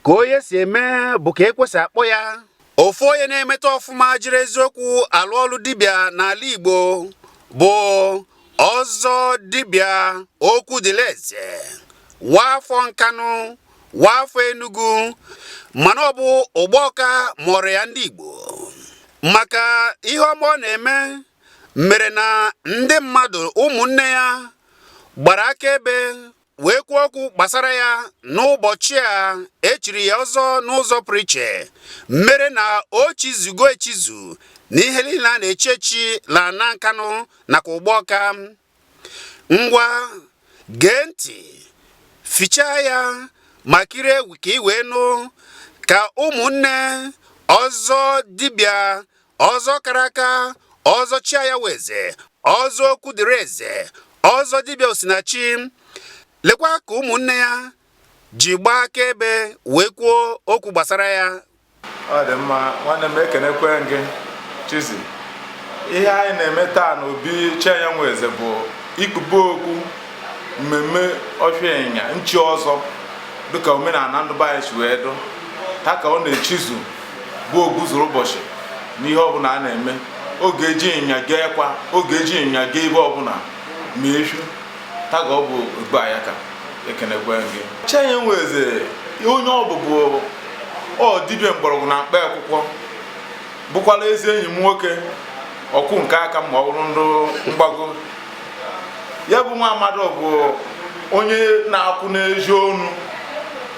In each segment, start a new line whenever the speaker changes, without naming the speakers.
ka onye si eme bụ ka e kwesị akpọ ya ofu onye na-emeta ọfụma jiri eziokwu alụ ọlụ dibịa n'ala Igbo bụ ọzọ dibịa Okwudịleze waafọ nkanụ waafọ enugu mana ọ bụ ụgbọọka mụọrọ ya ndị Igbo maka ihe ọma ọ na-eme mere na ndị mmadụ ụmụnne ya gbara akaebe wee kwuo okwu gbasara ya n'ụbọchị a e chiri ya ọzọ n'ụzọ pụrụ iche mere na o chizugo echizu n'ihe niile a na-echi echi n'ana nkanụ nakwa ụgbọọka ngwa gee ntị fichaa ya ma kirie egwu ka ị wee nụ ka ụmụnne ọzọ dibịa ọzọ kara aka ọzọ chiaya nweze ọzọ Okwudịleze ọzọ dibịa osinachi lekwa ka ụmụnne ya ji gbaa akaebe wee kwuo okwu gbasara ya ọ dị
mma nwanne m ekenekwe gị chizi ihe anyị na-eme taa na obi chiaya nweze bụ ikpube okpu mmemme ọfịa ịnyịnya nchi ọzọ dịka omenala ndụ be anyị si wee dụ taa ka ọ na-echizu bụ ogbuzuru ụbọchị n'ihe ọbụla a na-eme ọ ga-eji ịnyịnya gaa ekwa ọ ga-eji ịnyịnya gaa ebe ọbụla ma efi taa ka ọ bụ ogbuanya ka ekenekwe gị chenye nweze onye ọ bụ bụ ọ dibịa mgbọrọgwụ na mkpa akwụkwọ bụkwala ezi enyi m nwoke ọkwụ nke aka ma ọ bụrụ ndụ mgbago ya bụ nwa amadi bụ onye na-akwụ n'ezi ọnụ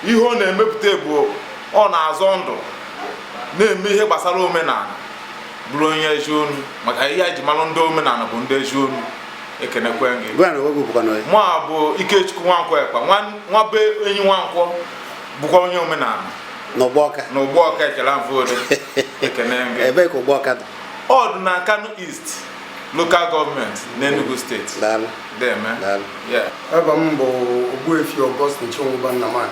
ihe ọ na-emepụta bụ ọ na-azọ ndụ na-eme ihe gbasara omenala bụrụ onye ezi ọnụ maka ihe e ji mara ndị omenala bụ ndị ezi ọnụ ekenekwe gị mụ a bụ Ikechukwu Nwankwo Ekpa nwa be enyi Nwankwo bụkwa onye omenala n'ụgbọọka ekele mfụdụ ekene gị ebee ka ụgbọọka
dị ọ dị na Nkanụ
East lokal gọọmenti n'Enugu steeti deme
eva m bụ Ogbuefi Augustine Chinwụba Nnamani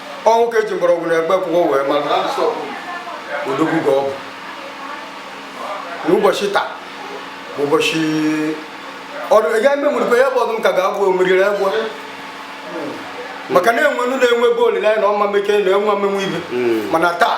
ọ nwoke eji mgbọrọgwụ na mkpa akwụkwọ wee mara odogwu ka ọ bụ n'ụbọchị taa bụ ụbọchị ọrụ ị gaghị memụrụkwa ya bụ ọdụm ka ga-abụ omeriri egbe maka na-enwe nụ na-enwe ebe olileanya na ọma meke na enwe amenwe ibe mana taa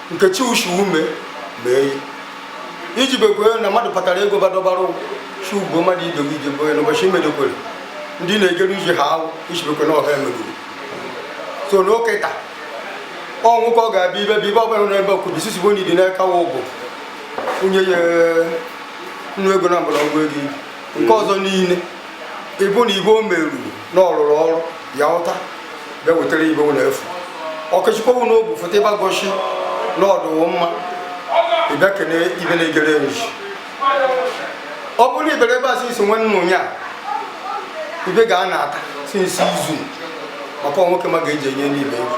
nkechi ushiume mee iji bekwe na mmadụ kpatara ego badọbara chi ugbo mmadụ idobe ije boye na ụbọchị imedokwere ndị na-egere ije ha awụ ichibekwe na ọha emegoro so nke taa ọnwụ ka ọ ga-abịa ibe bụ ibe ọbụla na ebe ọkụbi sisi bụ na idi n'aka wa ụbụ nwunye ya nnu ego na mgbọrọgwụ ego ibi nke ọzọ niile ịbụ na ibe o meruru na ọrụrụ ọrụ ya ụta bịa wetara ibe na-efu ọkọchịkọwu na obu fụta ịbịa goshi na ọdụwụ mma ịbịa kene ibe na-egere nji ọ bụrụ na ibere ebe a sinsi nwanne m onye a ibe ga a na-ata sinsi izu maka nwoke ma ga-eji enye n'ibe egwu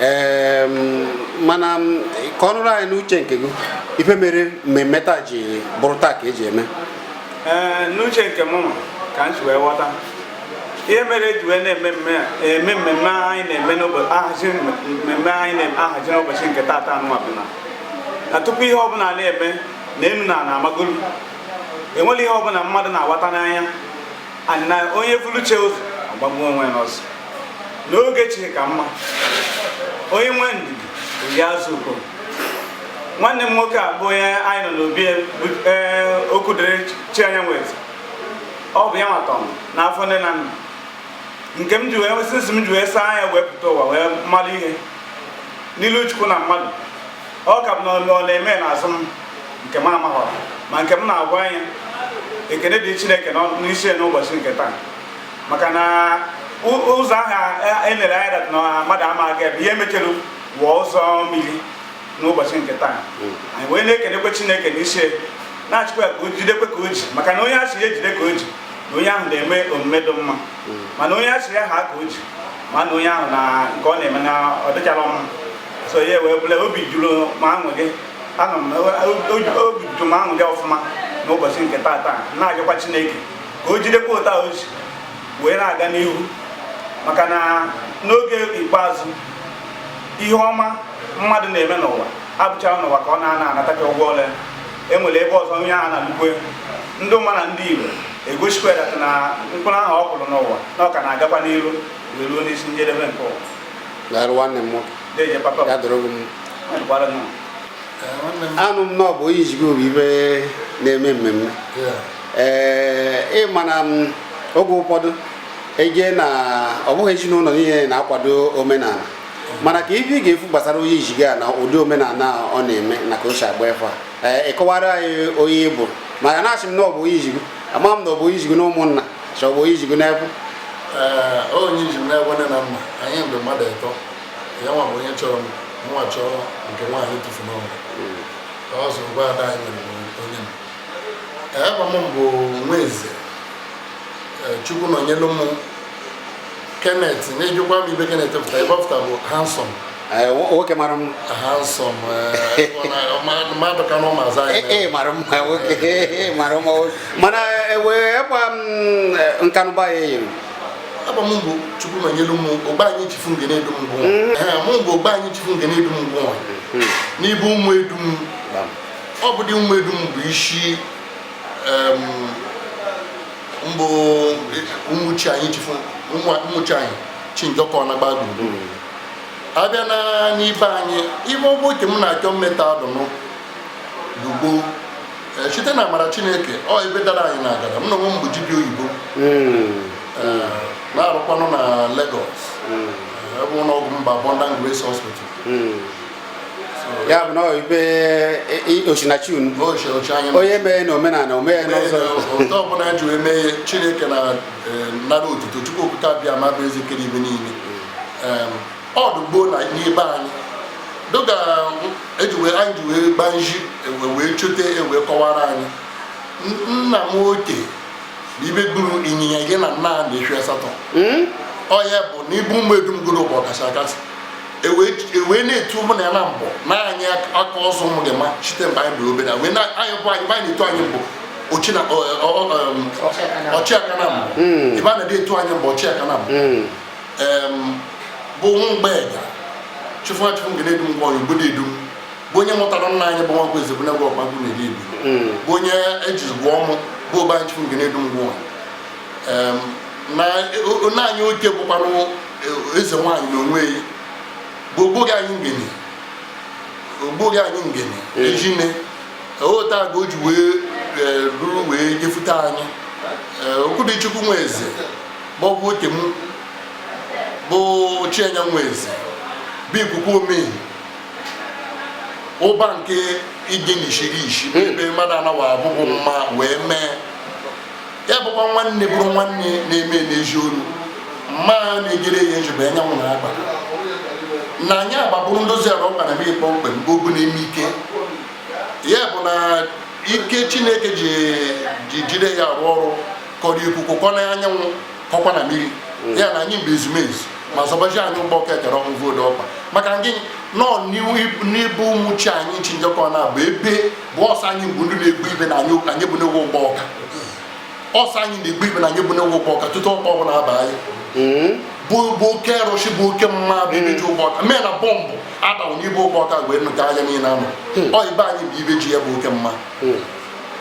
ee mana kọọnụrụ anyị n'uche nke gị ife mere mmemme taa ji bụrụ taa ka eji eme ee
n'uche nke m ka m si wee ghọta ihe mere eji wee na-eme mmemme anyị na-ahazi n'ụbọchị nke taata anụnwa bụ na tupu ihe ọbụla na-eme n'enu ana na amagolu enwere ihe ọbụla mmadụ na-aghọta n'anya na onye vulu chi ụzọ ọ gbagbuo onwe n'ọsọ na oge chi ka mma onye nwe ndidi o rie azụ ukpo nwanne m nwoke a bụ onye anyị nọ n'obi e, e, okwudịrị chianya nweze ọ bụ ya nwa tọ m n'afọ nne na nna nke m ji wee sinsi m ji wee saa anya wee pụta ụwa wee malụ ihe n'ilu chukwu na mmadụ ọ ka m n'ọnụ ọ na-eme n'azụ m nke m amaghọ ma nke m na-agwa anya ekene dị chineke n'isi n'ụbọchị nke taa maka na ụzọ aha elere anya dat na mmadụ ama aga ebe ihe mechere wụọ ụzọ mmiri n'ụbọchị nke taa hmm. anyị wee na-ekenekwe chineke n'isi na-asịkwa ya ka o jidekwe ka o ji maka na onye asị ya jide ka o ji na onye ahụ na-eme omume dị mma hmm. mana onye asị ya haa aka o ji ma na onye ahụ na nke ọ na-eme na ọ dịcharọ mma so ya wee bụlụ na obi juru m aṅụrị anọ m obi juru m aṅụrị ọfụma n'ụbọchị nke taata na-ajakwa Chineke ka o jidekwa otu a o ji wee na-aga n'ihu maka na n'oge ikpeazụ ihe ọma mmadụ na-eme n'ụwa abụcharọ n'ụwa ka ọ na-anatacha ụgwọ ọlụ e nwere ebe ọzọ onye ahụ na-alụkwe ndị ụmụ ya na ndị Igbo egosikwa na mkpụrụ ahụ ọ kụrụ n'ụwa na ọ ka na-agakwa n'iru wee ruo n'isi njedebe nke ụwa daalụ nwanne m nwoke ya dịrị gị
mma anụ m na ọ bụ onye iji gụ bụ ibe na-eme mmemme ee ịma na m oge ụfọdụ eje na ọ bụghị ezinụlọ niile na-akwado omenala mana ka ibe ị ga-efu gbasara onye iji gụ a na ụdị omenala a ọ na-eme na ka o si agba efe a ee ịkọwara anyị onye ọ bụ maka na asị m na ọ bụ onye iji gụ ama m na ọ bụ onye iji gụ na ụmụnna chọ bụ onye iji gụ n'ebo
ee onye iji m n'ebo nne na nna anyị bụ mmadụ ịtọ ya nwa bụ onye chọrọ m nwa chọọ nke nwaanyị tufu n'ọnwa ka ọ zụrụ gwa ada anyị nwere bụ onye m ee aba m bụ nweze ee, chukwunọnyelum kenneth na-ejikwa m ibe kenneth fụta ibe ọ fụta bụ handsome nwoke
mara mma
ee mara mma nwoke mara
mma nwoke mana wee gba nkanụba ya eyiri aba m bụ
chukwunọnyelum ogbe anyị chifu nge na-edu m gwụọ mụ bụ ogbe anyị chifu nge na-edu m gwụọ n'ibe ụmụ edu m ọ bụ dị ụmụ edu m bụ isi mbụ ụmụchi anyị chifu ụmụchi anyị chinjọkọ na gbagburugburu abịa na n'ibe anyị ibe ọgbọ oke m na-achọ mmeta adụnụ lugbo Eh, site na amara chineke ọ ebe dara anyị na-agara m na onwe m bụ dibịa oyibo Eh, na-arụkwanụ na Lagos ebe ụlọ ọgwụ m bụ Abundant Grace Hospital
ya bụ na ibe osinachi unu onye mee na omenala omee n'ụzọ ụtọ ọbụla
ji wee mee chineke na e, nara otuto chukwu okike abịama bụ eze kere ibe niile ọdụ gboo na n'ibe anyị dịka ejiwe anyị ji wee gbaa nji e wee chọte e wee kọwara anyị nna m oke na ibe gburu ịnyịnya gị na nna a na efi asatọ hmm? ọ ya bụ na ibe ụmụ edum goro bụ ọkasị akasị ewee e na-etu ụmụ na ya na mbụ na anyị aka ọzọ ụmụ gị ma site mgbe anyị dị obere wee anyị bụ anyị anyị na-etu anyị mbụ ochina ọchịaka na mbụ hmm. ebe a na-adị etu anyị mbụ ọchịaka na mbụ hmm. bụ nwa mgbe ga chụfụ achụfụ nke na-edu ngwa ọrụ obodo edum bụ onye mụtara nna anyị bụ nwankwọ ezebunagwụ ọkpagbu na-eri ebi hmm. bụ onye eji gụọ ọmụ bụ ụba anyị chụfụ nke na-edu ngwa ọrụ na anyị oke bụkwanụ eze nwaanyị na onwe ya bụ ogboghị anyị ngene ogboghị anyị ngene ejine ota ka o ji wee ruru wee jefute anyị okwudichukwu nwa eze maọbụ oke m bụ chienya nwa eze bụ ikuku omei ụba nke ije n'ishiri ishi ebe mmadụ anaghị abụghị mma wee mee ya bụkwa nwanne bụrụ nwanne na-eme n'ezi ọrụ mma na-ejere ya ezigbo anyanwụ na agba na anyị agbabụrụ ndozi ala ọkpa na mmiri kpọmkwem bụ obu na-eme ike ya bụ na ike chineke ji jide ya arụ ọrụ kọrọ ikuku kọ na anyanwụ kọkwa na mmiri ya na anyị mgbe ezumezu ma zọbaji anyị ụgbọ ọka ekere ọnwụ voodu ọkpa maka gị nọ n'ibe ụmụchi anyị chinjọkọ na bụ ebe bụ ọsọ anyị bụ ndị na-egbu ibe na anyị anyị bụ n'ewu ụgbọ ọka ọsọ anyị na-egbu ibe na anyị bụ n'ewu ụgbọ ọka tutu ọkpọ ọbụla aba anyị hmm? bụ bụ oke rụshi bụ oke mma bụ ibe ji ụgbọ ọka mee na bọmbụ adawu n'ibe ụgbọ ọka wee nụta anya niile ama hmm. ọ ibe anyị bụ ibe ji ya bụ oke mma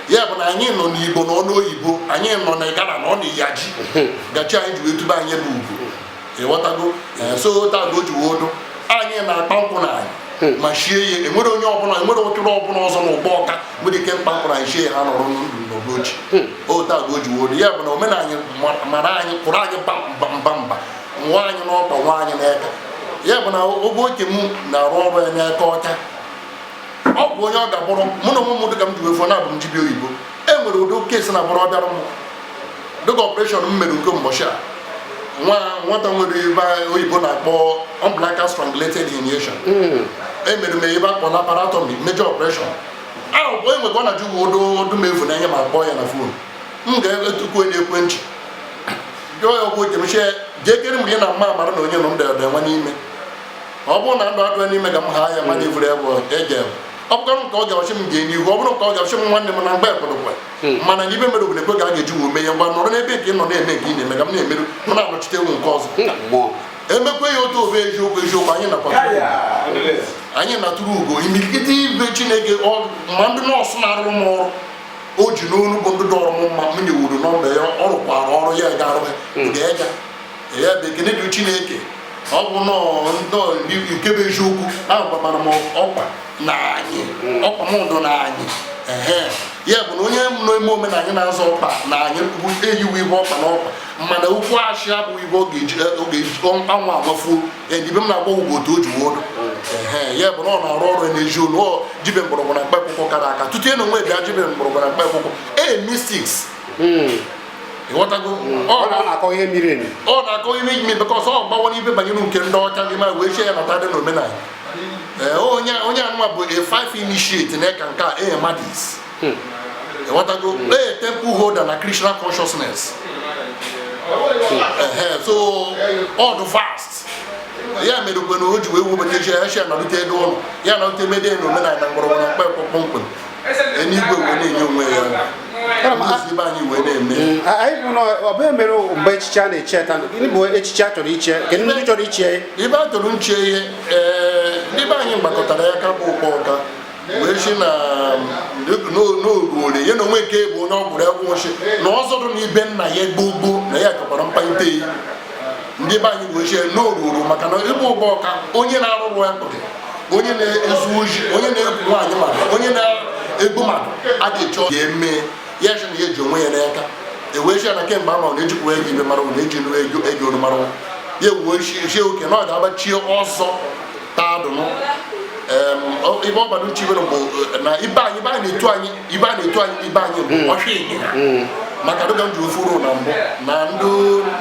ya bụ na anyị nọ n'igbo nọ n'oyibo anyị nọ na igala nọ na iyaji gachi anyị ji wee tube anyị bụ ugwu ịghọtago so ota ka o ji wee dụ anyị na-akpa nkụ n'anị hmm. ma shie ya enwere onye ọbụla enwere ụtụrụ ọbụla ọzọ na ụgbọ ọka nwere ike kpa nkụ n'anị shie ya ha nọrọ ndụ n'ụbọchị hmm. ota ka o ji wee dụ ya bụ na omenala anyị mara anyị kwụrụ anyị mba mba mba nwa anyị n'ọkpa nwa anyị n'aka ya bụ na oge oke m na-arụ ọrụ ya n'aka ọcha ọ bụ onye ọ ga-abụrụ mụ na ụmụ m dịka m ji wee fụ na abụ m dibịa oyibo e nwere ụdị case na-abụrụ ọ bịara m dịka operation m mere nke mbọchị a nwa nwata nwere ibe oyibo na-akpọ umbilical strangulated herniation emere m ibe a kpọ laparotomy major operation ahụ bụ enwe ka ọ na-ajụ uwe odo odu m efu n'anya m akpọọ ya na fon m ga-etukwu onye ekwentị jụọ ya okwu oche m sị ya jee kere mgbe ya na mma amara na onye nọ m dere nwa n'ime ọ bụrụ na ndụ adịghị n'ime ka m ha ya ma na-evuru ya bụ eje ọ bụrụkwa nke ọ ga-asị m gaa n'ihu ọ bụrụ nke ọ ga-asị m nwanne m na mgbe ekwerekwe hmm. mana n'ibe mere obodo ekwe ga a ga-eji wee mee ya ngwa nọrọ n'ebe nke ị nọ na-eme nke ị na-eme ka m na-emerụ m na-anọchite ewu nke ọzọ emekwe ya otu obe eziokwu eziokwu anyị nakwa anyị na-atụrụ ugo imirikiti ibe chineke ma ndị nọọsụ na-arụrụ m ọrụ o ji n'ọnụ bụ ndị dọrọ m mma m nyewuru nọmba ya ọ rụkwara ọrụ ya ga-arụ ya hmm. ga-eja ya bụ ekene dị chineke ọ bụ nnọọ nke bụ eziokwu ahụ gbamara m ọkwa na anyị ọkwa m ndụ na anyị ya bụ na onye na-eme omenanị na-azọ ọkpa n'anị bụ eyiwe ibe ọkpa n'ọkpa mana okwu asị abụ ibe ọ ga-eji anwụ agbafuo edibe m na-agba ugbo otu o ji wee dụ ya bụ na ọ na-arụ ọrụ n'ezi olu ọ jibe mgbọrọgwụ na mkpa akwụkwọ kara aka tutu ya nwee bịa jibe mgbọrọgwụ na mkpa akwụkwọ a mystic ịghọtago mm. ọ na-akọ ihe miri emi ọ na-akọ ihe miri emi because ọ bawa n'ibe banyere nke ndị ọcha gị ma wee sị ya nata dị n'omenala eh, onye onye anụwa bụ a fifth initiate na Eckankar ee Mahdis hmm. ịghọtago hmm. ee temple holder na Krishna consciousness hmm. eh, so ọ dị vast ya mere ugbe na o ji wee wubata a sị ya nọrịta ebe ụlọ ya nọrịta ebe dị n'omenala na mgbọrọgwụ na mkpa kpọmkwem eluigwe wee na-enye onwe ya ibe anyị wee na-eme mm, anyị bụ
na ọbụghị mere mgbe echiche a na-eche ta gịnị bụ echiche a chọrọ iche kedụ ndị chọrọ iche ibe a chọrọ nche
ihe ndị be anyị gbakọtara ya ka bụ ụgbọ ọka wee sị na n'oruole ya na onwe nke bụ onye ọgwụrụ egwu wee sị na ọ zọdụ na ibe nna ya gboo gboo na ya chọkwara mkpalite ya ndị be anyị wee sị n'oruoro maka na ibe ụgbọ ọka onye na-arụrụ ya onye na-ezu oshi onye na-egwu nwaanyị mmadụ onye na-egbu mmadụ a ga-eche ya eme ya sị na ya ji onwe ya n'aka e wee sị ya na kemgbe ama na ejikwa ego ibe mara na eji nụ ego ego onu mara ya wee sị oke na ọ ga-agbachie ọzọ taa dụnụ ebe ọ gbara uche ibe bụ na ibe anyị ibe anyị na-etu anyị ibe a na-etu anyị n'ibe anyị bụ ọchụ ịnyịnya maka dịka m ji ofuru na mbụ na ndị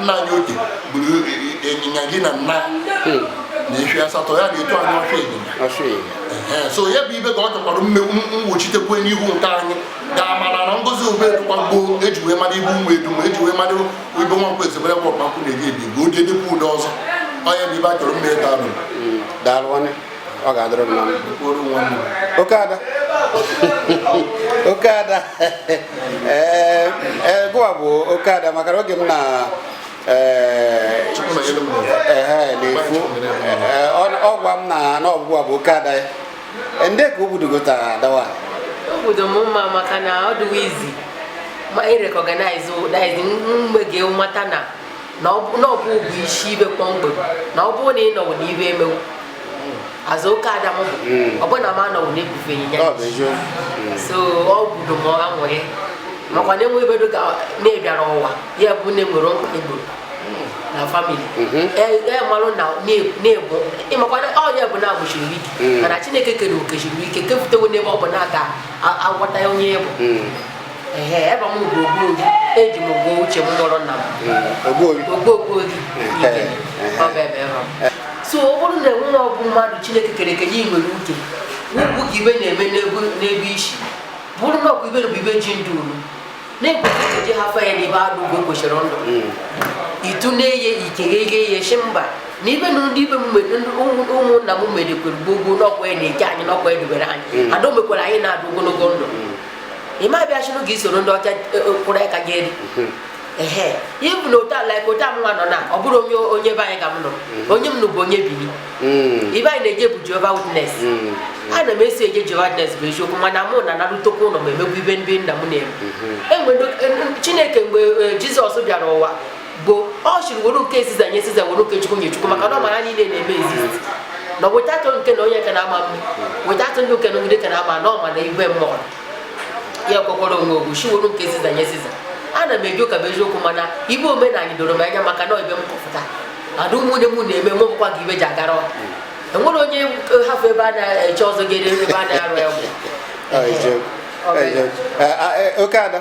nna anyị oge gburu ịnyịnya gị na nna na efi asatọ ya na-etu anyị ọchụ ịnyịnya ọchụ ịnyịnya Ee, so ya bụ ibe ka ọ chọkwara mmewu mgbochitekwe n'ihu nke anyị ga-amara na ngozi ube dịkwa gboo eji wee mara ibu ụmụ edu ma eji wee mara ibe nwa mkpa ezebere kwa ọkpankwụ na-ebi ebi bụ ụdị edekwa ụdị ọzọ onye bụ ibe a chọrọ mma daalụ daalụ nwanne
ọ ga-adịrị mma oke ada oke ada ee eh, eh, gụwa bụ oke ada maka na oge m na eh, na-efu ọ gwa m na gụwa bụ oke ada ya ndị ka obodo taa dawa obodo m
mma maka na ọ dịwa easy ma ị recognize mgbe ị ga-amata na na ọ bụ bụ isi ibe kpọmkwem na ọ bụrụ na ị nọwụ na ibe emewu azụ oke ada m bụ ọ bụ na m anọwụ na-ebufe ịnyịnya so ọ gwudo m anwụrị makwa na enwe ibedo ka na-ebịara ụwa ya bụ na enwere mkpa egboro na family emalụ na na-egbu ị makwa ọ ya bụ na-agbụchiri ike mana chineke kere ọ kesiri ike kepụtawo n'ebe ọ bụ na-aga agwọta onye bụ eji m ogbo uche m mụrụ nna m ogbo ogbo gị so ọ bụrụ na enwe ọ bụ mmadụ chineke kere eke nye nwere uche ugwu ka ibe na-eme n'ebe isi bụrụ na ọkụ ibe bụ ibe ji ndụ unu na-ekwesịrị eji hafọ ya n'ebe adụ ugbo kwesịrị ndụ hmm. itu na-eye ikeghe ihe ihe shi mba na ibe na ndị ibe ụmụnna m medekwere gbogbo n'ọkwa ya na-eji anyị n'ọkwa ya dubere anyị hmm. ada ọ mekwara anyị na-adụ ogologo ndụ hmm. ị ma bịa chụrụ gị i soro ndị ọcha e, e, kwụrụ aka gị elu mhm. ehe ịbụ na otu ala ka otu amụnwa nọ na ọ bụrụ onye onye be anyị ka m nọ mhm. onye m nụ bụ onye Bini mhm. ibe anyị na-eje bụ Jehovah Witness ana m esi eje Jehovah Witness bụ eziokwu mana mụ na narụtokwa ụlọ ma emegbu ibe ndị nna m na-eme e Chineke mgbe Jizọs bịara ụwa bụ ọ sịrị were nke Siza nye Siza were nke chukwu nye chukwu maka na ọ mara niile na-eme exist na without nke na onye ka na-ama mma without ndị nke na ogide ka na-ama na ọ ma na igwe mmụọ ya kwekwara onwe ogwu sị were nke Siza nye Siza ana m eje ụka bụ eziokwu mana ibe omenala doro m anya maka na ibe m kọpụta ada ụmụnne m na-eme mụ bụkwa gị ibe ji agara ọha enwere onye hafụ ebe a na-eche ọzọ ga-ere ebe a na-arụ ya ọgwụ Ọ, Ije- Ọ bụ- Ije-
Eh, ah, eh, oke ada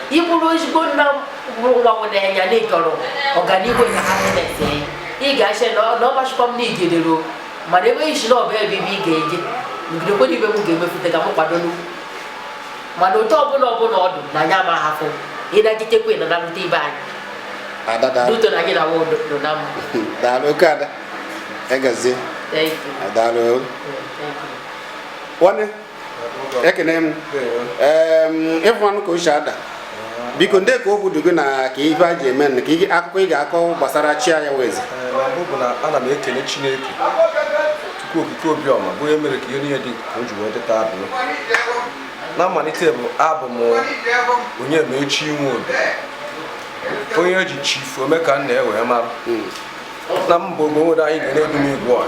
ị bụrụ ezigbo nna bụrụ nwa nwere anya na ị chọrọ ọganihu na happiness ya ị ga-asị na ọ- na ọ gbachikwa m n'igedero mana enweghị isi na ọba ebe ibe ị ga-eje ngidekwere ibe m ga-emefute ka m kwado n'ugwu mana otu ọbụla ọbụla ọ dụ na anyị ama ahafụ ịnagitekwa na nalụta ibe anyị ada daalụ duto na anyị na nwa odo nọ na mma daalụ oke ada
egazie Thank you. daalụ Thank you. nwanne ekene m ịfụmanụ ka ochie ada biko ndị ka obi dị gị na ka ife a ji eme na ka akụkọ ị ga-akọ gbasara chi anya wezi ana
m ekele chineke Chukwu okike obiọma bụ onye mere ka ihe niile dị ka o ji wee dị taa abụọ na mmalite bụ abụ m Onyemaechi inwe obi onye eji chifu ome ka nna ya wee mara hmm. na mba ogbo nwere anyị ga na-edu m igwe ọha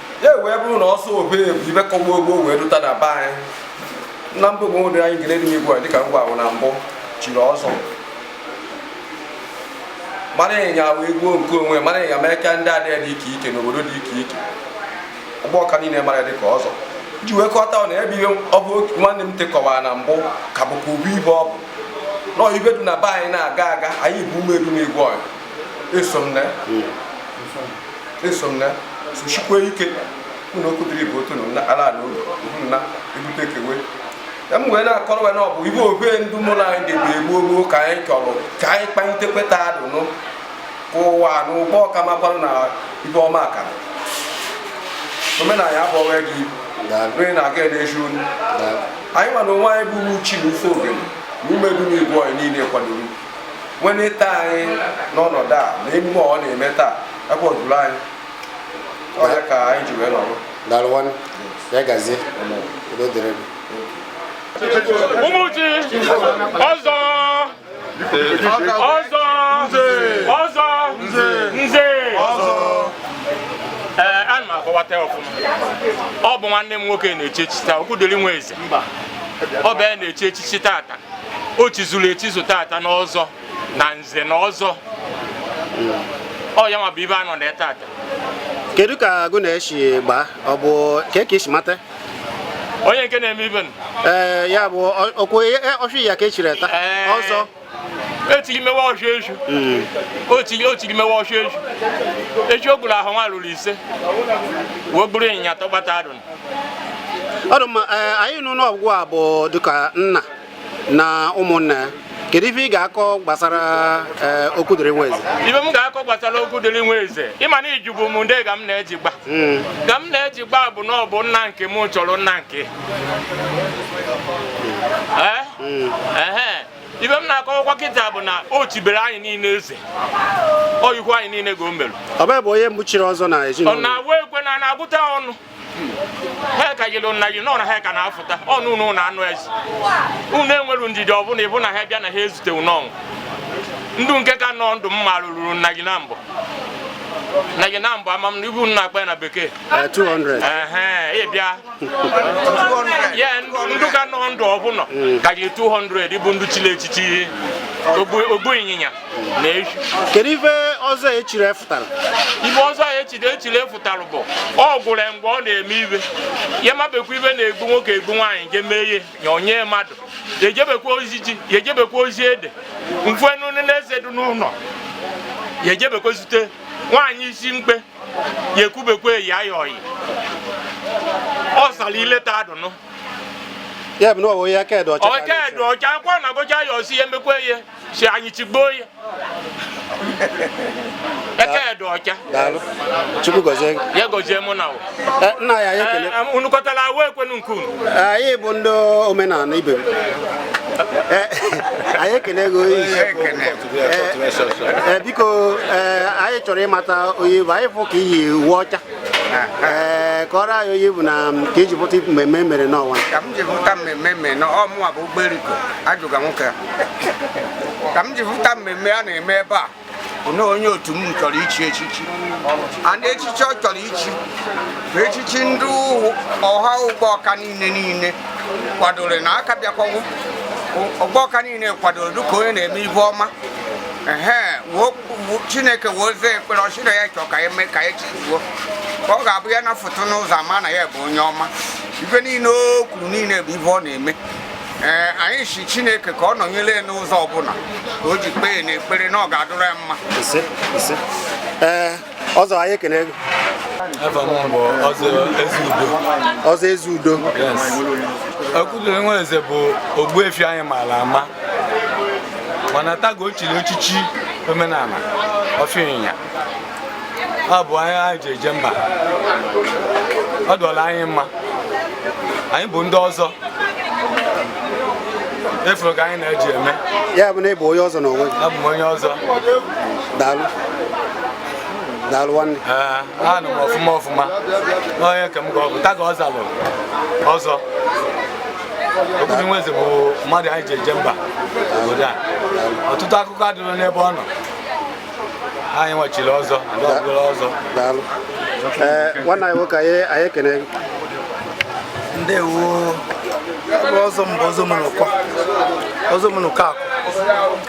ya wee bụrụ na ọzọ obe bụ ibe ka gboo gboo wee dụta na be anyị na mba ogbo nwere anyị gere n'ime igwe dịka ngwa ahụ na mbụ chiri ọzọ mara ịnya wee gbuo nke onwe mara ịnya mee ka ndị adịghị dị ike ike n'obodo dị ike ike Ugbọka niile mara dịka ọzọ ji wee kọta na ebe ihe ọ bụ nwanne m tekọwara na mbụ ka bụkwa ọ bụ ibe ọ bụ nọọ ibe dị na be anyị na-aga aga anyị bụ ụmụ Edum Igwe ọyụ eso m na hmm. eso m na sochikwa ike mụ na Okwudiri bụ otu na ala ala ụlọ na ebute kewe m wee na-akọrọ wee na ọ bụ ibe obe ndị mụrụ anyị debe gboo gboo ka anyị chọrọ ka anyị kpalite kweta adụnụ ka ụwa na Ugbọka makwara na ibe ọma aka omenala ya bụ ọnwa gị onye na-aga edeji onu anyị ma na onwe anyị bụ uchi na ofe ogene na ụmụ Edum Igwe anyị niile kwadoro nweneta anyị n'ọnọdụ a na emume ọ na-eme taa akwadoro anyị ọya ka anyị ji wee nọrọ daalụ nwanne
ya gazie udo dịrị gị Umuchi
ọzọ ọzọ ọzọ nze ee ana m akọwata ya ọfụma ọ bụ nwanne m nwoke na-echi echichi taa Okwudiri Nweze ọ bụ ya na-echi echichi tata o chizuru echizu tata n'ọzọ na nze na ọzọ ọ ya nwa bụ ibe a nọ na tata kedu ka
agụ na-esi gbaa ọ bụ ka ka esi mata onye
nke na-eme ibe ee ya
bụ okwu ọchụ ya ka e chiri taa ọzọ
etiri mewe ọchụ eju hmm. otiri mewe ọchụ eju eju o gburu ehi nwa ruru ise wee gburu ịnyịnya tọgbata adụ
ọ dụ mma eh, anyị nụ na ọ gịwa bụ dịka nna na ụmụnna ya kedu ife ị ga-akọ gbasara eh, Okwudiri Nweze ibe m ga-akọ gbasara
Okwudiri Nweze ị ma na ị jụbu m ndị ga m na-eji gba hmm. ga m na-eji gba bụ na ọ bụ nna nke m chọrọ nna nke hmm. Eh? Hmm. ibe m na-akọwakwa kịta bụ na o chibere anyị niile eze oyikwu anyị niile ga o merụ ọ bụ ya bụ onye mbụ
chiri ọzọ na ọ ezinụlọ na-awụ ekwe na
na-agụta ọnụ ha ka yiri nna gị nọ na ha ka na-afụta ọnụ unu na anụ ezi unu enwere ndidi ọbụla ịbụ na ha bịa na ha ezute n'ọnwụ ndị nke ka nọ ndụ marụrụ nna gị na mbụ nna gị na mbụ ama m na ibu nna akpa ya na bekee 200
eh,
ịbịa ya ndụ ka nọ ndụ ọbụla hmm. ka gị 200 bụ ndụ chili echichi ogbu ịnyịnya na ehi kedu ife
ọzọ e chiri fụtara ife ọzọ a
e chiri echiri fụtara bụ ọ gwụrụ mgbe ọ na-eme ife ya emebekwa ife na-egbu nwoke egbu nwaanyị je mee ihe ya onye mmadụ ya ejebekwa ozi ji ya ejebekwa ozi ede mfenu na eze dị n'ụlọ ya ejebekwa zute nwaanyị isi mkpe ya ekwubekwa eyi ayọ ọyị ọ sara ile taa
dụnụ ya bụ na ọwụ ya kedụ ọcha ọcha edu ọcha akwa
na gocha ya ọsi ya emekwa ihe si anyị tigbuo ya eke edu ọcha
daalụ chukwu gọzie gị ya gozie mụ
na Eh, nna ya
ya ekele unu kọtara
awa ekwenu nke unu anyị bụ ndị
omenala ibe m Eh, anyị ekele gị oyi ee biko ee anyị chọrọ ịmata onye ị bụ anyị fụ ka i yi uwe ọcha ee kọọrọ anyị onye ị bụ na ka i ji pụta mmemme e mere n'ọnwa ka m ji pụta mmemme
e mere n'ọmụwa bụ Ogberiko ajụga nwoke ka m ji pụta mmemme a na-eme ebe a na onye otu m chọrọ ichi echichi and echichi ọ chọrọ ichi bụ echichi ndị ọha Ugbawka niile niile kwadoro na aka bịakwawo Ugbawka niile kwadoro dịka onye na-eme ife ọma chineke wee ozi ekpere ọ sị na ya chọọ ka eme ka e chizuo ka ọ ga-abụ ya na-afụta n'ụzọ a ma na ya bụ onye ọma ife niile o kwuru niile bụ ife ọ na-eme ee anyị si chineke ka ọ nọnyere ya n'ụzọ ọbụla ka o ji kpee na ekpere na ọ ga-adụrụ ya mma
ọzọ anyị ekene gị ọzọ ezi
udo Okwudili Nwaeze bụ ogbuefi anyị maara ama mana taa ka o chiri echichi omenala ọfịa ịnyịnya ọ bụ anyị anyị ji eje mba ọ dụrụ anyị mma anyị bụ ndị ọzọ ị fụrụ ka anyị na-eji eme ya bụ na ị bụ onye
ọzọ n'onwe gị abụ m onye ọzọ daalụ daalụ nwanne ee anụ m
ọfụma ọfụma onye ka m ga ọ bụ taa ka ọ zalụ ọzọ Okwudili Nwaeze bụ mmadụ anyị ji eje mba obodo a ọtụtụ akụkọ adịrọ n'ebe ọ nọ anyị nwa chiri ọzọ ndị ọbụla ọzọ
daalụ ee nwanne anyị nwoke anyị anyị ekene gị. ndewo
ọzọ m bụ ọzọ Omenụkọ ọzọ Omenụkọ akụ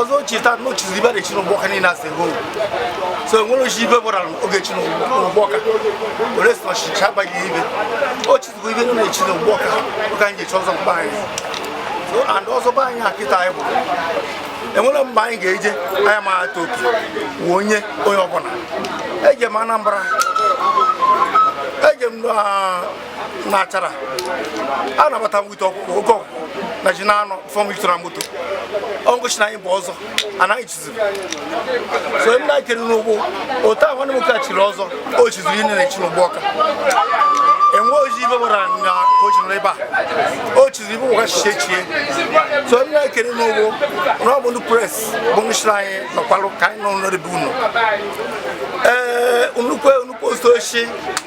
ọzọ cheta na o chizi ibe na-echi n'Ụgbọọka niile asị hụ so enwere ochi ibe gbara oge chi n'Ụgbọọka were si ọchịchị abaghị ibe o chizigo ibe nọ na-echi n'Ụgbọọka ọ ka anyị ga-echi ọzọ mgbe anyị so and ọzọ be anyị akịta anyị bụ enwere mgbe anyị ga-eje anya ma ata oke wụ onye onye ọbụla eje m Anambra eje m na na Achara a nabata m wite oke ọkụkọ na ji na-anọ fọm ijutere na moto ọngụchi na anyị bụ ọzọ anaghị chiziri so onye na kere n'ugbo otu ahụ nwanne m nwoke a chiri ọzọ o chiziri ibe na-echi n'Ụgbọọka enwe oji ibe gbara na o ji nọrọ ebe a o chiziri ibe ụwa chichie chie so onye na kere n'ugbo na ọ bụ ndị press bụ ndụ chiri anyị nọkwalụ ka anyị nọ n'ọdịbe unu ee nnukwu nnukwu osochi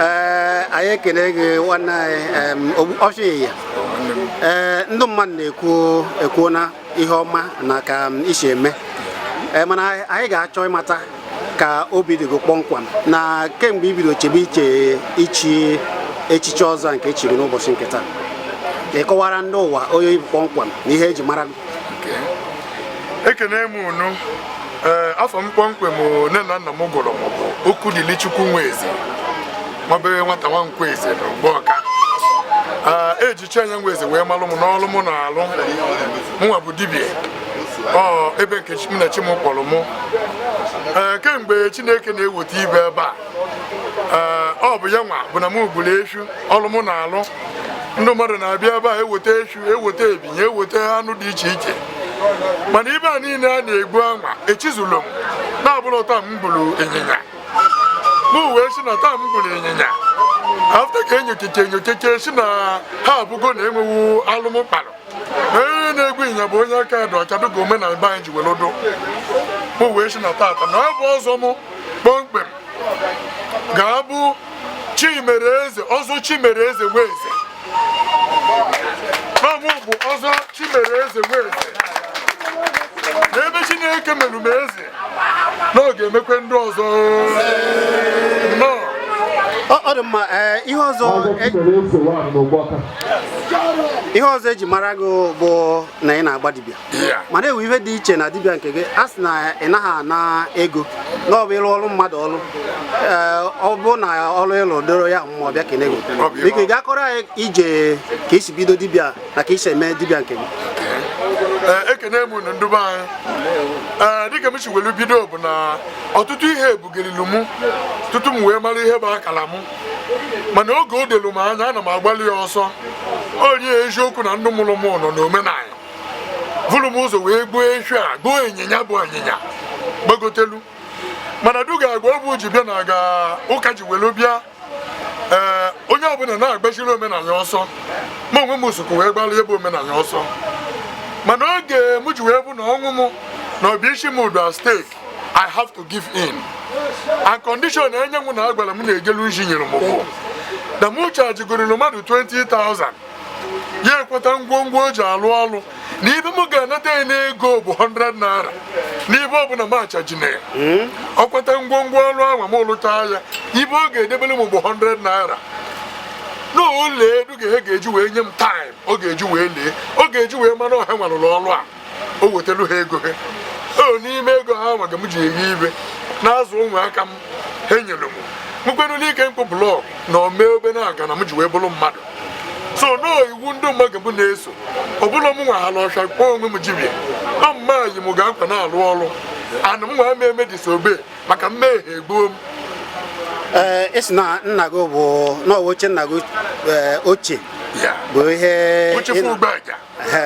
ee anyị ekele gị nwanne anyị ọchị ịnyịnya ee ndị mmadụ na-ekwu ekwuo na ihe ọma na ka i si eme ee mana anyị ga-achọ ịmata ka obi dị gị kpọmkwem na kemgbe i bido chebe iche ichi echichi ọzọ nke e chiri n'ụbọchị nke taa ị kọwara ndị ụwa onye ị bụ kpọmkwem na ihe eji mara gị
ekene m unu ee eh, afa m kpọmkwem nne na nna m gụrụ m bụ Okwudilichukwu Nweze nwabeghị nwata nwa Nkweze na Ụgbọọka eh, eji Chianya Nweze wee malụ m n'ọlụ m na-alụ mụnwa bụ dibia ọ ebe nke m na chi m kpọrọ mụ ee eh, kemgbe Chineke na-eweta ibe ebe a ee ọ bụ ya nwa bụ na m gburu efu ọlụ m na-alụ ndị mmadụ na-abịa ebe a eweta efi eweta ebi ya eweta anụ dị iche iche mana ibe a niile a na-egbu anwa echizụlụ m na ọ bụrụ taa m gburu ịnyịnya mụ wee si na taa m gburu ịnyịnya after ka enyokeche enyokeche si na ha abụgo na enwewu alụ mụ kpalụ onye na-egbu ịnyịnya bụ onye aka dị ọcha dịka omenala be anyị ji were dụ mụ wee si na tata na ọ bụ ọzọ mụ kpọmkwem ga-abụ Chimereze ọzọ Chimereze Nweze Ma mụ bụ ọzọ Chimereze Nweze n'ebe Chineke merụ m eze na ọ ga-emekwe ndị
ọzọ ọ dị mma eh, ihe ọzọ e- ihe ọzọ eji mara gị bụ na ị na-agba dibịa mana enwe ihe dị iche na dibịa nke gị a sị na ị naghị ana ego na ọ bụ ị lụọrụ mmadụ ọrụ ọ bụ na ọrụ ị lụ doro ya mma ọ bịa kene gị biko ị ga-akọrọ anyị ije ka i si bido dibịa na ka i si eme dibịa nke gị
ekene m unu ndụ be anyị ee dịka m si welu bido bụ na ọtụtụ ihe ebugelilu mụ tutu m wee mara ihe bụ akala mụ mana oge o dolu m anya ana m agbalụ ya ọsọ onye eziokwu na ndụ mụrụ m nọ n'omenala vụrụ m ụzọ wee gbuo efi a gbuo ịnyịnya bụ ịnyịnya gbagotelu mana duga agwa ọ bụ ji bịa na aga ụka ji were bịa ee onye ọbụla na-agbazịrị omenala ọsọ ma onwe m sokwu wee gbalụbe omenala ọsọ mana oge m ji wee bụ na ọnwụ m na ọbịa isi m dụ at stake I have to give in. And condition enye mụ na agwara m na-ejelu nji nyere m bụ na mụ chajigorelu mmadụ 20,000 ya akwata ngwongwo o ji alụ ọlụ na ibe m ga-anata ya n'ego bụ 100 naira na ibe ọbụla m achajina ya ọ kwata ngwongwo ọrụ ahụ m lụchaa ya ibe ọ ga-edebere m bụ 100 naira n'ole duga he ga-eji wee nye m taịm ọ ga-eji wee lee ọ ga-eji wee mara na ọ ha nwelu ọrụ a o wetara ha ego ha o n'ime ego ha nwa ka m ji eri ibe na-azụ ụmụaka m ha nyere m mụkwanụ n'ike mkpụ blọk na omee obe na-aga na m ji wee bụrụ mmadụ so na ọ iwu ndị maa ga mụ na-eso ọbụla m nwa hala ọcha kpọọ onwe m jibia ọ maa yi m ga akwa na-alụ ọrụ ana m nwa m eme disobey maka mmehie egbuo m
ee esi na nna gị bụ na ọ wụ oche nna gị ochie bụ ihe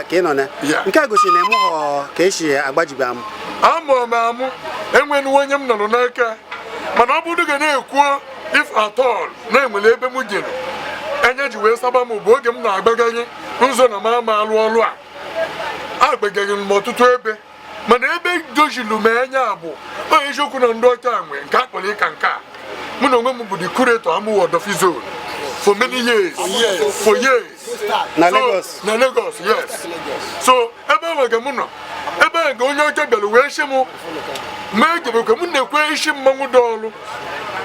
ka ị nọ na nke a gosiri na ị mụghọ ka esi agba jibia amụ amụọ m amụ
enweghị onye m nọrọ n'aka mana ọ bụrụ ga na-ekwu if at all na e nwere ebe m jere anya ji wee saba m ọ bụ oge m na-agbaganye na-ezo na m ama alụ ọlụ a agbaganyere m ọtụtụ ebe mana ebe dojulu m anya bụ onye eziokwu na ndị ọcha nwe nke a kpọrọ ịka nke a mụ na onwe m bụ the curator Amuwo Odofin zone for many years for years na So,
Lagos na Lagos
yes so ebe ahụ ga mụ nọ ebe ahụ ga onye ọcha bịara wee sị m ma egebekwe m nekwe isi mmanwụ dị ọrụ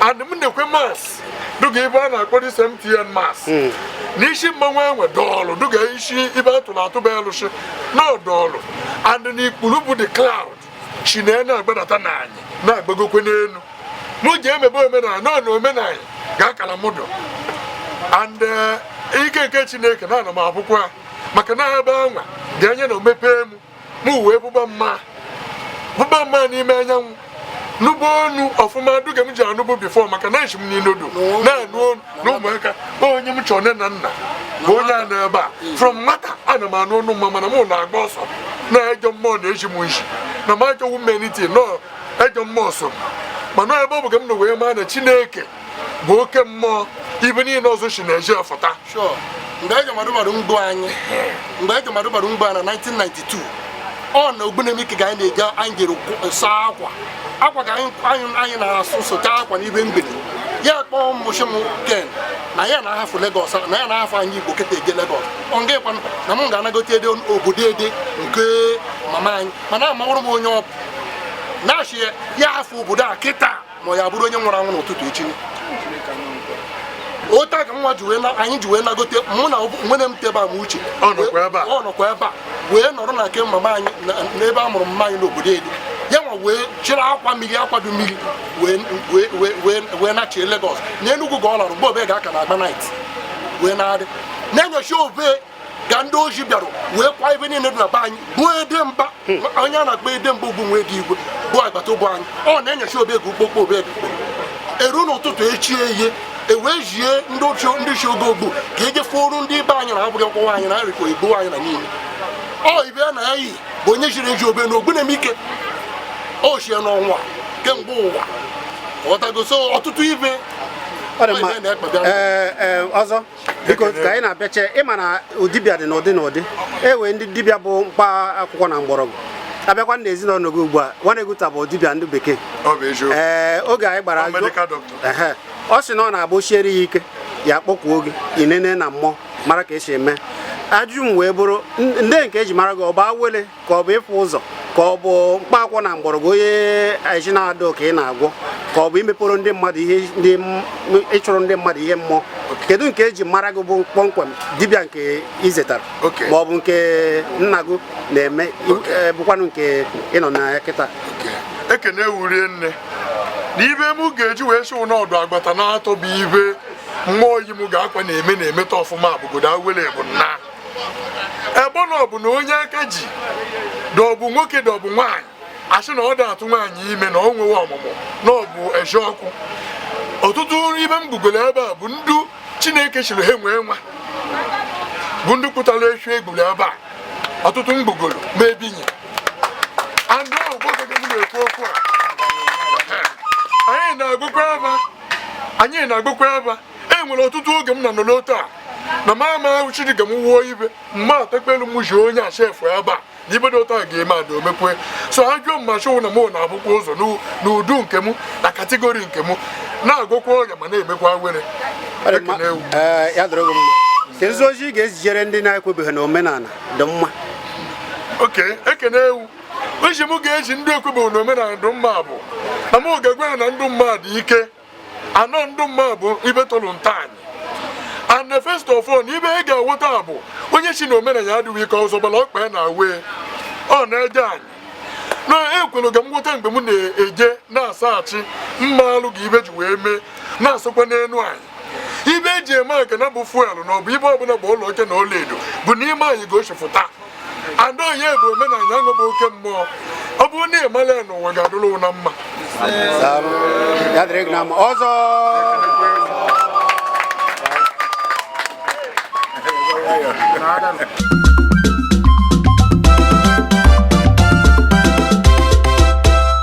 and m nekwe mask dịka ibe a na-akpọ this MTN mask hmm. n'isi mmanwụ enwe dọọlụ dịka isi ibe atụrụ atụba elụsị na ọdọọlụ and n'ikpuru bụ the cloud shi na na-agbadata na anyị na-agbagokwe n'elu mụ ji emebe omenala na na omenala ga-akala mụdụ and eh, ike nke chineke na ana m avụkwa maka na ebe anwa ga enya nọ mepee mụ m wee vụba maa vụba maa n'ime anya nụba ọnụ ọfụma duga m ji anụbụ before maka na eji m n'inodo na-anụ ọnụ na ụmụaka onye m chọọ nne na nna bụ onye a na ebe a from nwata ana m anụ ọnụ maa mana m na-agba ọsọ na ejọ mmụọ na eji m nshi na m achọwu mmeniti nọ ejọ mmụọ so mana ebe ahụ ka m nọ wee maa na chineke bụ oke mmụọ ibe niile ọzọ si na-eji ọfụta mgbe
eji madụbara mgbo anyị mgbe eji madụbara mgbo na 1992 ọ na Ogbunemike ka anyị na-eje anyị jere ịsa akwa akwa ka anyị na-asụ sụcha akwa n'ibe mgbede ya kpọọ mmụchi m ken na ya na-ahafụ Lagos na ya na-ahafụ anyị Igbo kịta eje Lagos ọngịkwa na m ga-anagote ede obodo ede nke mama anyị mana amawụrụ m onye ọ bụ na-achị ya afọ obodo a kịta ma ya bụrụ onye nwụrụ anwụ n'ụtụtụ echi otu a ka nwa ji wee na anyị ji wee nagote mụ na nwanne m tebe m Uche ọ nọkwa ebe a wee nọrọ na nke mama anyị na- n'ebe a mụrụ mama anyị n'obodo ede ya nwa wee chịrị akwa mmiri akwa dị mmiri wee nachie Lagos na Enugu ka ọ lara mgbe obe ga-aka na agba night wee na-adị n'enyasị obe ka ndị oshi bịara wee kwa ibe niile dị na be anyị bụ ede mba onye a na-akpọ ede mba ugwu nwee dị igwe bụ agbata ụbụ anyị ọ n'enyasị obe ka ukpokpo obego eru n'ụtụtụ echi ya e wee jie ndị oshi ndị chi ogo ogbu ka eje fụoru ndị ibe anyị na-abụghị ọkpọwa anyị na arịkọ igbo anyị na niile ọ ibe a na ya yi bụ onye jiri eji obe na Ogbunemike o chie n'ọnwa kemgbe ụwa ọtago so ọtụtụ ibe ọ dị mma na-ekpebịa Ee,
ee, ọzọ biko ka anyị na-abịache ị ma na dibịa dị n'ụdị n'ụdị e nwee ndị dibịa bụ mkpa akwụkwọ na mgbọrọgwụ a bịakwa na ezinụlọ gị ugbu a nwaneguta bụ dibịa ndị bekee ee oge anyị gbara ọ sị na ọ na-abụ o siere ya ike ya kpọkuo gị i nene na mmụọ mara ka esi eme ajụjụ m wee bụrụ ndị nke eji mara gị ọ bụ awele ka ọ bụ ịfụ ụzọ ka ọ bụ mkpa akwụkwọ na mgbọrọgwụ onye aji na-adọ ka ị na-agwọ ka ọ bụ imepụrụ ndị mmadụ ihe ịchụrụ ndị mmadụ ihe mmụọ kedu nke eji mara gị bụ kpọmkwem dibịa nke izetara ma ọ bụ nke nna gị na-eme e, bụkwanụ nke ị nọ na ya kịta
ekene wurie nne na ibe m ga-eji wee sị ụnọdụ agbata n'atọ bụ ibe mmụọ yi m ga-akwa na-eme na-emeta ọfụma bụgodo awele bụ nna ebe na ọ bụ na onye aka ji dọbụ nwoke dọbụ nwaanyị a sị na ọ da-atụ nwaanyị ime na ọ nwewe ọmụmụ na ọ bụ eziokwu ọtụtụ ibe m gbugoro ebe a bụ ndu Chineke sịrị ha nwee nwa bụ ndị kpụtara efi e gburu ebe a ọtụtụ m gbugoro ma ebinye andị ahụ bụ oge m na-ekwu okwu a anyị na-agụkwa ebe anyị na-agụkwa ebe e nwere ọtụtụ oge m na nọ n'otu a na m ama ahụ Chineke m wuo ibe mma atakpelu m ji onye a shefu ebe a na ibe dị otu a ga-eme ada omekwe so ha jụọ mma chụwụ na mụ na-afụkwa ụzọ n'ụdị nke m na kategori nke m na-agwọkwa ọrịa ma na-emekwa awele
kedu ozi ị ga-ezijere ndị na-ekwebeghị na omenala dị mma oke
ekene ewu iji m ga-eji ndị ekwebeghị na omenala dị mma bụ na m ga-agwa ha na ndụ mmadụ ike anọ ndụ mma bụ ibe tolu ntaanyị and first of all ibe ị ga-awọta bụ onye si na omenana ya adịghị ike ụzọ gbara ọkpa ya na awe ọ na-eje anyị na ekwelu ka m wọta mgbe m na-eje na-asaghachi mma alụ ga ibe ji wee mee na-asụkwa n'elu anyị ibe eji eme aka na bụ fuel na ọ bụ ibe ọbụla bụ ụlọ oke na ọlaedo bụ n'ime anyị ka o si fụta ada onye bụ omenala ya bụ oke mmụọ ọ bụrụ na ị mala ya n'ụwa ga-adụrụ na mma ọzọ